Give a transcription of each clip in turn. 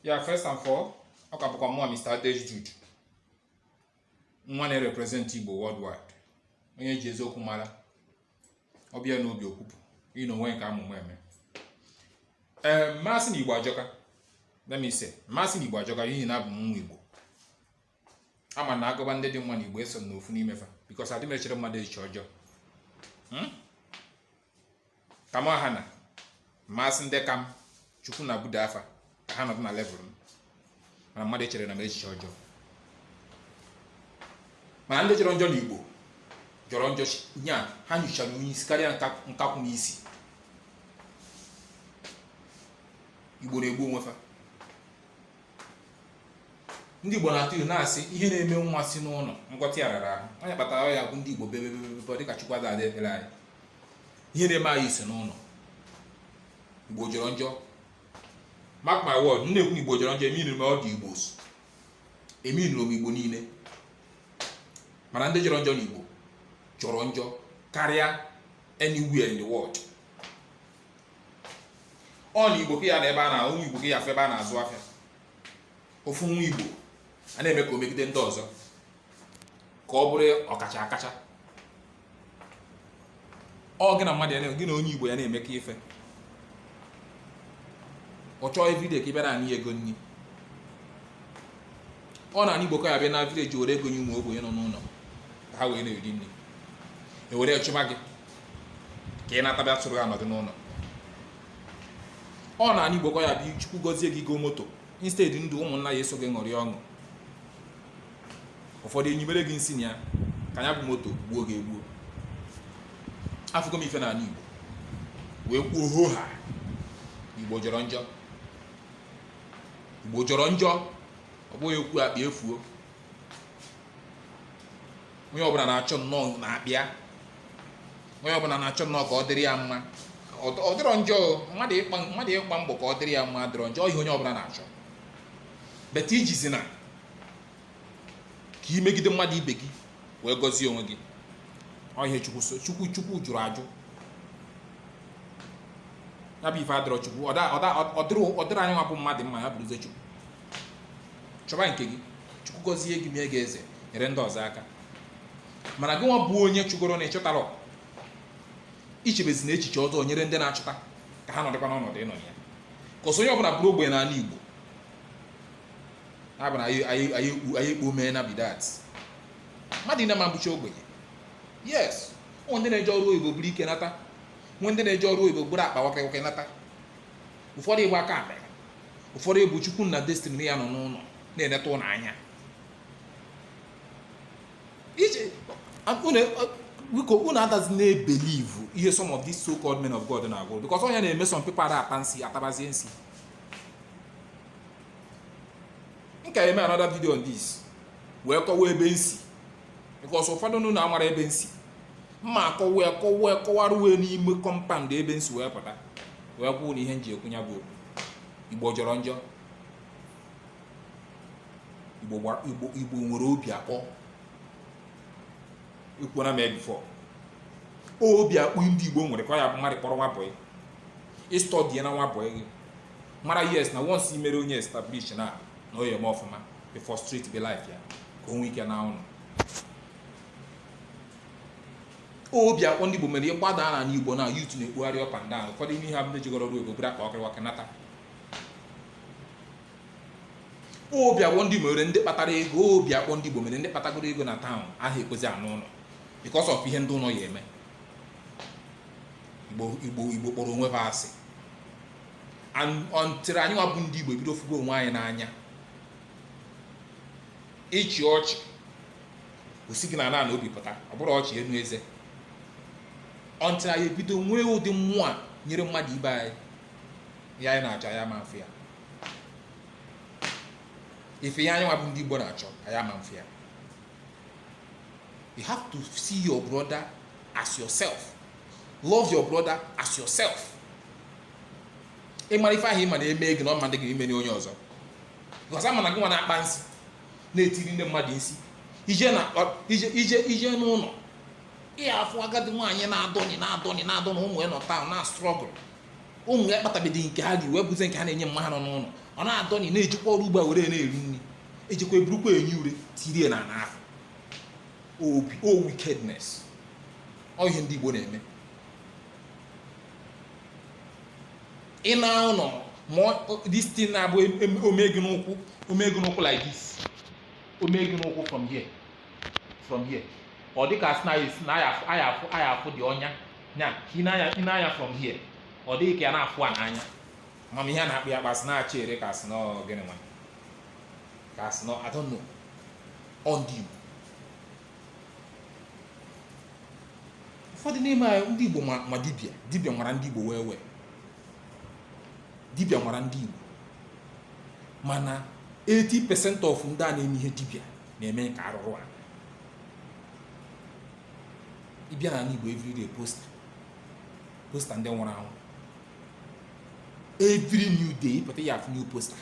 yeah first and foremost ọ ka bụkwa mụwa Mr. Adesh Jude nwa na-erepresent Igbo worldwide onye ji eziokwu mara ọ bịa n'obi o kwupụ ị na onwe nke amụma eme ee m ma-asị na Igbo ajọka let me say m ma-asị na Igbo ajọka n'ihi na abụ m nwa Igbo ama m na a gụba ndị dị mma na igbo eso m n'ofu n'ime fa because adị m echere mmadụ echiche ọjọọ hmm? kama ha na m ma-asị ndị ka m chukwu na-ebuda fa ka ha nọdụ na level m mana mmadụ echerena m echiche ọjọọ mana ndị jọrọ njọ na igbo jọrọ njọ nya ha nyochara onye isi karịa nkakwụ n'isi igbo na-egbu onwe fa ndị Igbo na-atụ ilu na-asị ihe na-eme nwa si n'ụlọ ngwọta ya rara ahụ onye kpatara ya bụ ndị Igbo bebebebebe dịka Chukwu ada-aza ekpere anyị ihe na-eme anyị si n'ụlọ Igbo jọrọ njọ mark my word m na-ekwu na Igbo jọrọ njọ emeanịrọ m all the Igbos emeanịrọ m Igbo niile mana ndị jọrọ njọ na Igbo jọrọ njọ karịa anywhere in the world ọ na igbo ka ya na ebe a na ụmụ igbo ka ị ya-afụ ebe a na-azụ afịa ofu nwa igbo a na-eme ka o megide ndị ọzọ ka ọ bụrụ ọkacha akacha ọ gị na mmadụ ya gị na onye igbo ya na-eme ka ife ọ chọọ everyday ka ị bịa na-ana ya ego nri ọ na anị igbo ka ị ya-abịa na village were ego nye ụmụ ogbenye nọ n'ụlọ ka ha wee na-eri nri e were chụba gị ka ị nata bịa soro ha nọdụ n'ụlọ ọ na anị igbo ka ị ya-abịa chukwu gọzie gị ị goo moto instead ndị ụmụnna ya-eso gị ṅụrị ọṅụ ụfọdụ enyimere gị nsi na ya ka ya bụ moto gbuo gị egbuo afụgo m ife n'ala igbo wee kwuo ho ha igbo jọrọ njọ igbo jọrọ njọ ọ bụghị okwu akpa efuo onye ọbụla na-achọ nnọọ na-abịa onye ọbụla na-achọ nnọọ ka ọ dịrị ya mma ọ dịrọ njọ mmadụ ịkpa mmadụ ịkpa mbọ ka ọ dịrị ya mma adịrọ njọ ọ ihe onye ọbụla na-achọ but ijizi na ka i megide mmadụ ibe gị wee gọzie onwe gị ọ ihe chukwu chukwu jụrụ ajụ ya bụ ife adịrọ chukwu ọ dịrọ anyị nwa bụ mmadụ mma ya bụrụzie chukwu chọba nke gị chukwu gọzie gị mee gị eze nyere ndị ọzọ aka mana gị nwa bụ onye chụgoro na ị chụtarọ ichebezina echiche ọjọọ nyere ndị na-achụta ka ha nọdịkwa n'ọnọdụ ị nọ ya ka ọsọ onye ọbụla bụrụ ogbenye n'ala igbo na-abụ na anyị- anyị anyị ekpu- anyị ekpu mee na be that mmadụ niine ama-abụcha ogbenye yes o nwe ndị na-eje ọrụ oyibo buru ike nata nwe ndị na-eje ọrụ oyibo buru akpa waka waka nata ụfọdụ ịgba aka akpa ụfọdụ ịbụ chukwu na destiny ya nọ n'ụlọ na-eleta ụlọ anya ije biko unu adazi na-ebelieve ihe some of these so-called men of God na-agwa unu because ọ ya na-eme some people ada ata nsi atabazie nsi m ka eme another video on this wee kọwa ebe m si because ụfọdụ unu amarọ ebe m si m ma akọwa ya kọwa ya kọwaruwe n'ime compound ebe m si wee pụta wee kwuo na ihe m ji ekwu ya bụ igbo jọrọ njọ igbo igbo igbo nwere obi akpọ ekwuona m ya before obi akpọ ndị igbo nwere ka ọ ya bụ mmadụ kpọrọ nwa bọyị ị stọdie na nwa bọyị gị mara ihe sị na once i mere onye establish na na ọ ya-eme ọfụma ị frustratebe life ya ka o nwee ike na ụlọ obi akpọ ndị Igbo mere ị gbada na ala Igbo na youth na-ekpugharị up and down ụfọdụ ime ihe abụla jigọrọ ọrụ ego buru akpa ọkịrịwakị nata obi akpọ ndị Igbo mere ndị kpatara ego obi akpọ ndị Igbo mere ndị kpatagoro ego na town aha ekwezi ana ụlọ because of ihe ndị ụlọ ha eme Igbo Igbo Igbo kpọrọ onwe ha asị until anyị nwa bụ ndị Igbo ebido fụgo onwe anyị n'anya ịchị ọchị o si gị na ana ana obi pụta ọ bụrụ ọchị enu eze until anyị ebido nwee ụdị mmụọ a nyere mmadụ ibe anyị ya anyị na-achọ ya ma mfe ya ife ya anyị nwa bụ ndị Igbo na-achọ ya ma mfe ya you have to see your brother as yourself love your brother as yourself ị mara ife ahụ ị ma na e mee gị na ọ ma dị gị ime onye ọzọ because a ma na gị nwa na-akpa nsị na-etiri ndị mmadụ nsị ije na ije ije ije n'ụlọ ị ya-afụ agadi nwaanyị na-adọnị na-adọnị na-adọ na ụmụ ya nọ town na struggle ụmụ ya kpatabedị nke ha ri wee bụzie nke ha na-enye mma ha nọ n'ụlọ ọ na-adọnị na-ejikwa ọrụ ugbo a were na-eri nri e jekwa e burukwa enyi ure tirie na ana ahụ obi o wickedness ọ ihe ndị Igbo na-eme ị na ụlọ ma this thing na-abụ o mee gị n'ụkwụ o mee gị n'ụkwụ like this o mee gị n'ụkwụ from here from here ọ dịka a sị na aya afụ aya afụ dị ọnya nya ị nee anya from here ọ dịghị ka ya na-afụ a n'anya mana ihe a na-akpọ ya kpasị na acha ere ka a sị n'ọ gịnị nwa ka a sị n'ọ I don't know ọ ndị Igbo ụfọdụ n'ime anyị ndị Igbo ma ma dibịa dibịa nwara ndị Igbo wee wee dibịa nwara ndị Igbo mana 80% of ndị a na-eme ihe dibịa na-eme ka arụrụ anị ị bịa n'anị Igbo everyday poster poster ndị nwụrụ anwụ every new day ị pụta ị ya-afụ new poster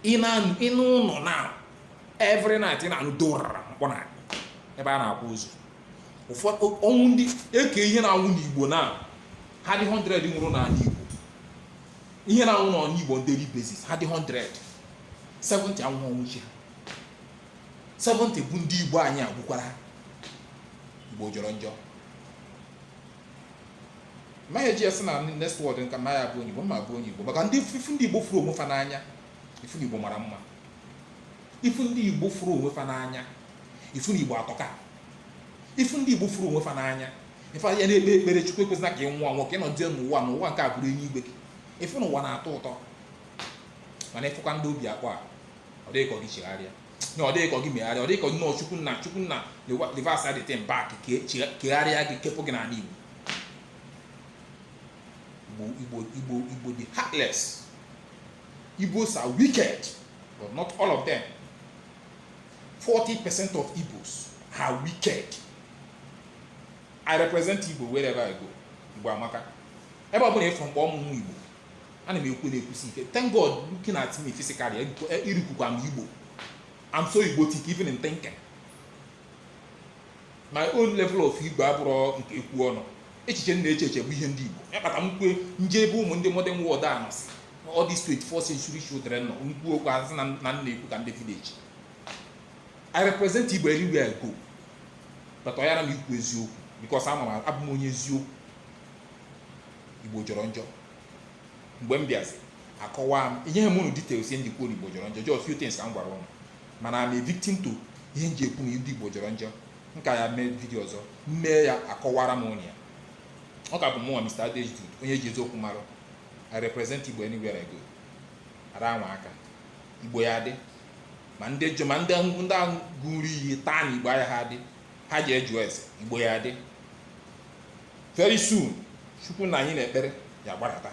ị nọ n'ime ụnọ na every night ị na-anụ dorara mkpọ n'anị ebe a na-akwa ozu ụfọdụ ọnwụ ndị eke ihe na-anwụ n'igbo na ha dị 100 nwụrụ n'ala igbo ihe na-anwụ n'ala igbo on daily basis ha dị 100 70 anwụha ọnwụ chi ha 70 bụ ndị igbo anyị a gbukwara ha igbo jọrọ njọ ma ya ji ya sị na next world m ka m ya-abụ onye Igbo ma bụ onye Igbo maka ndị ị fụ ndị Igbo fụrụ onwe fa n'anya ị fụ na Igbo mara mma ị fụ ndị Igbo fụrụ onwe fa n'anya ị fụ na Igbo atọka ị fụ ndị Igbo fụrụ onwe fa n'anya ife ị ya na-ekpe ekpere Chukwu ekwezina ka ị nwụọ anwụ ka ị nọdụzie n'ụwa na ụwa nke a bụrụ enuigwe gị ị fụ na ụwa na-atọ ụtọ mana ị fụkwa ndị obi akpọ a ọ dị gị ka ọ gị chegharịa na ọ dị gị ka gị megharịa ọ dị gị ka nnọọ chukwu nna chukwu nna reverse the thing back kegharịa gị kepụ gị n'ala igbo Igbo, Igbo, Igbo, dị heartless. Igbos are wicked, but not all of them. 40% of Igbos are wicked. I represent Igbo wherever I go. Igbo amaka. Ebe ọ bụla ị fụ mkpọ ọmụmụ Igbo ana m ekwu na-ekwusi ike thank God looking at me physically irikukwa m Igbo I'm so Igbotic even in thinking my own level of Igbo abụrọ nke ekwu ọnụ echiche m na-eche eche bụ ihe ndị Igbo ihe kpata m kwue m je ebe ụmụ ndị modern world a nọsị all these 24 century children nọ m kwuo okwu a sị na m na-ekwu ka ndị village I represent Igbo everywhere I go but ọ yara m ikwu eziokwu because I'm abụ m onye eziokwu igbo jọrọ njọ mgbe m bịazi akọwa m enyehe m unu details ihe m ji ekwu na igbo jọrọ njọ just few things ka m gwara ụnụ mana I'm a victim to ihe m ji ekwu na ndị igbo jọrọ njọ m ka ya-eme video ọzọ m mee ya akọwara m ụnụ ya ọ ka bụ mụnwa Mr. Adejude onye e ji eziokwu marụ I represent igbo anywhere I go ara anwa aka igbo ya-adị ma ndị jụ ma ndị ndị ahụ ṅụrụ iyi taa na igbo ayaha adị n'aha Jesus igbo ya-adị very soon chukwu nna anyị na-ekpere ya-agbarata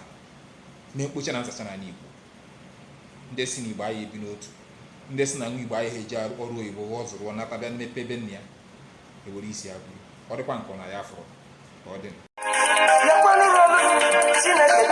na mkpocha na nzacha n'ala igbo ndị sị na igbo aya ebi n'otu ndị sị na nwa igbo ayaha eji ọrụ oyibo ọ zụrụ nata bịa mepee be nna ya ewere isi agụ ọ dịkwa nke na ya fọrọ ka ọ dị Chineke